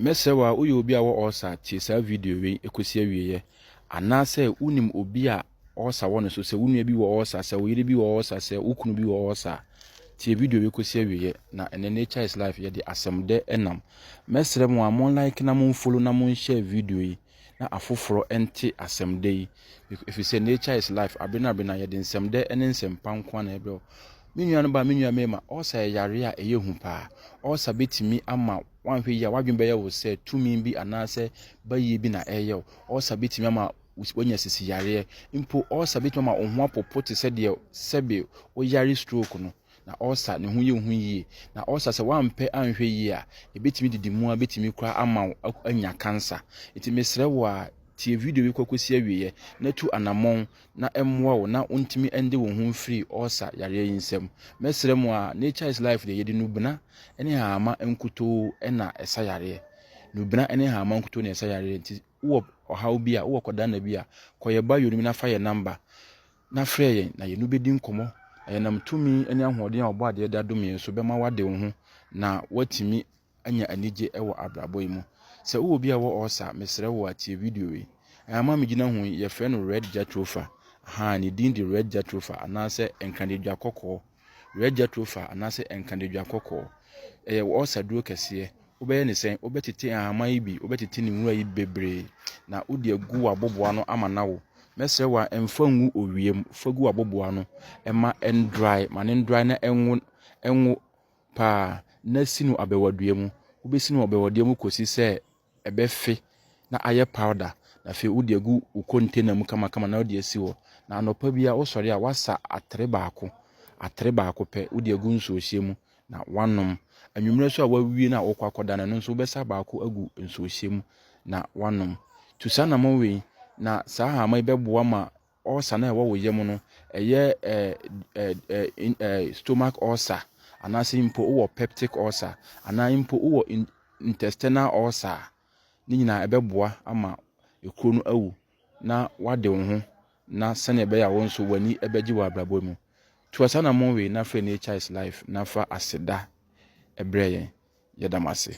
Mɛsrɛ wo a woyɛ obi a wɔ ɔɔsa a tie saa video wei ɛkɔsi awieɛ. Anaasɛ wonim obi a ɔɔsa wɔ ne so sɛ wo nua bi wɔ ɔɔsa sɛ wo yere bi wɔ ɔɔsa sɛ wo kunu bi wɔ ɔɔsa a tie video wei kɔsi awieɛ na ɛnɛ Nature is Life yɛde asɛmdɛ ɛnam. Mɛsrɛ mo a mo like na mo follow na mo nhyɛ video yi. na afoforɔ nte asɛmdɛ yi, ɛfiri sɛ nature is life, abere no abere no ara yɛde nsɛmdɛ ne nsɛmpa nko ara na ɛbrɛ wo. Me nua no ba, me nua mmarima, ɔɔsa yɛ yareɛ a ɛyɛ hu paa. Ɔɔsa bɛtumi ama woanhwɛ yie a w'adwene bɛyɛ wo sɛ tumi bi anaasɛ bayie bi na ɛreyɛ wo. Ɔɔsa bɛtumi ama woanya sisi yareɛ. Mpo ɔɔsa bɛtumi ama wo ho apopo te sɛ deɛ sɛbe woyare stroke no. na ɔresa ne ho yɛ wo ho yie. Na ɔresa sɛ woampɛ anhwɛ yie a, ɛbɛtumi de di mu a bɛtumi koraa ama wo anya cancer. Nti mesrɛ wo a, tie video yi kɔkɔsi awieɛ na tu anamɔn na ɛmmoa wo na wontumi ɛnde wo ho mfiri ɔresa yareɛ yi nsam. Mɛsrɛ mu a, Nature is Life deɛ yɛde nubena ne hama nkutoo na ɛsa yareɛ. Nubena ne hama nkutoo na ɛsa yareɛ nti wowɔ ɔhaw bi a, wowɔ kɔdana bi a, kɔ yɛ bio no mu na fa yɛ number na frɛ yɛn na yɛne wo bɛdi nkɔmmɔ, na yɛnam tumi ne ahoɔden a Ɔbɔadeɛ de adom yɛn so bɛma woade wo ho na woatumi anya anigye wɔ abrabɔ yi mu. Sɛ wowɔ obi a ɔwɔ ɔɔsa a, mesrɛ wo a, tie video yi. Nhama a megyina ho yi, yɛfrɛ no Red Jatropha. Ahaa, ne din de Red Jatropha, anaasɛ Nkradadwa Kɔkɔɔ. Werɛ Jethro fa anaasɛ nkadadwa kɔkɔɔ. Ɛyɛ ɔsaduro kɛseɛ. Wobɛyɛ ne sɛn? Wobɛtete nhahamma yi bi, wobɛtete ne nwura yi bebree, na wode agu w'aboboa no ama no awo. Mɛsrɛ wo a, mfa ngu owia mu. Fa gu w'aboboa no ma ɛndrae, ma no ndrae na ɛnwo, ɛnwo paa, na si no abɛwadua mu. Wobɛsi no abɛwadua mu kɔsi sɛ ɛbɛfe na ayɛ powder, na afei wode agu wo container mu kamakama na wode asi hɔ. Na anɔpa biara wosɔre a woasa atere baako, atere baako pɛ, wode agu nsuohyɛ mu na woanom. Anwummerɛ nso a woawie no a wokɔ akɔda no, ɛno nso wobɛsa baako agu nsuohyɛ mu na woanom. Tu saa anamɔn wei na saa hama yi bɛboa ma Ulcer no a ɛwɔ wo yam no, ɛyɛ stomach ulcer anaasɛ mpo wowɔ peptic ulcer anaa mpo wowɔ intestinal ulcer a, ne nyinaa ɛbɛboa ama ekuro no awu na wade wo ho na sɛnea ɛbɛyɛ a wo nso w'ani bɛgye wɔ abrabɔ mu. To asanamon wei na frɛ Nature's Life na fa aseda brɛ yɛn. Yɛda mo ase.